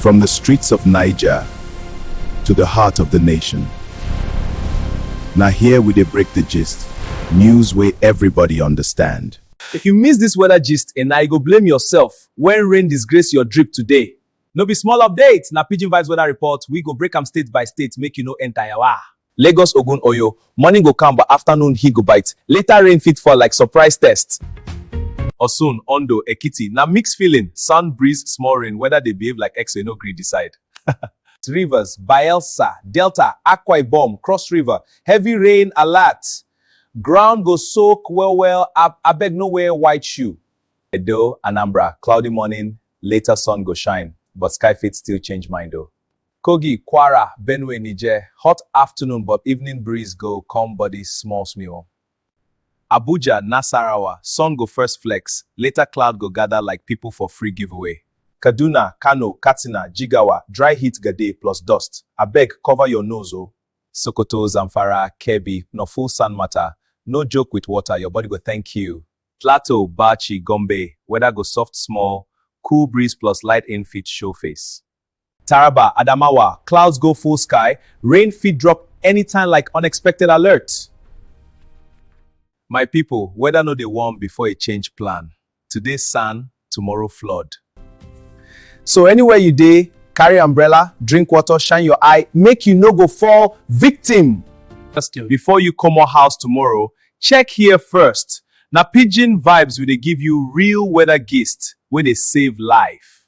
From the streets of Niger to the heart of the nation. Now here we dey break the gist, news wey everybody understand. If you miss this weather gist eh, na you go blame yourself when rain disgrace your drip today. No be small update, na Pidgin Vibes weather report, we go break am state by state make you no enter yawa. Lagos Ogun Oyo, Morning go calm but afternoon heat go bite, later rain fit fall like surprise test. Osun, Ondo, Ekiti, na mixed feeling, sun, breeze, small rain, weather dey behave like X-ray no gree decide. Rivers, Bayelsa, Delta, Akwa Ibom, Cross River, heavy rain alert! Ground go soak well well, ab abeg no wear white shoe. Edo, Anambra, cloudy morning, later sun go shine, but sky fit still change mind o. Kogi, Kwara, Benue, Niger, hot afternoon but evening breeze go come body small small. Abuja, Nasarawa, sun go first flex, later cloud go gather like people for free giveaway. Kaduna, Kano, Katsina, Jigawa, dry heat ga dey plus dust, abeg cover your nose o. Sokoto, Zamfara, Kebbi, no fool sand matter, no joke with water, your body go thank you. Plateau, Bauchi, Gombe, weather go soft small, cool breeze plus light in fit show face. Taraba, Adamawa, clouds go full sky, rain fit drop anytime like unexpected alert. My people, weather no dey warm before e change plan. Today sun, tomorrow flood. So anywhere you dey, carry umbrella, drink water, shine your eye, make you no go fall victim. Before you comot house tomorrow, Check here first, na pidgin vibes we dey give you real weather gist wey dey save life.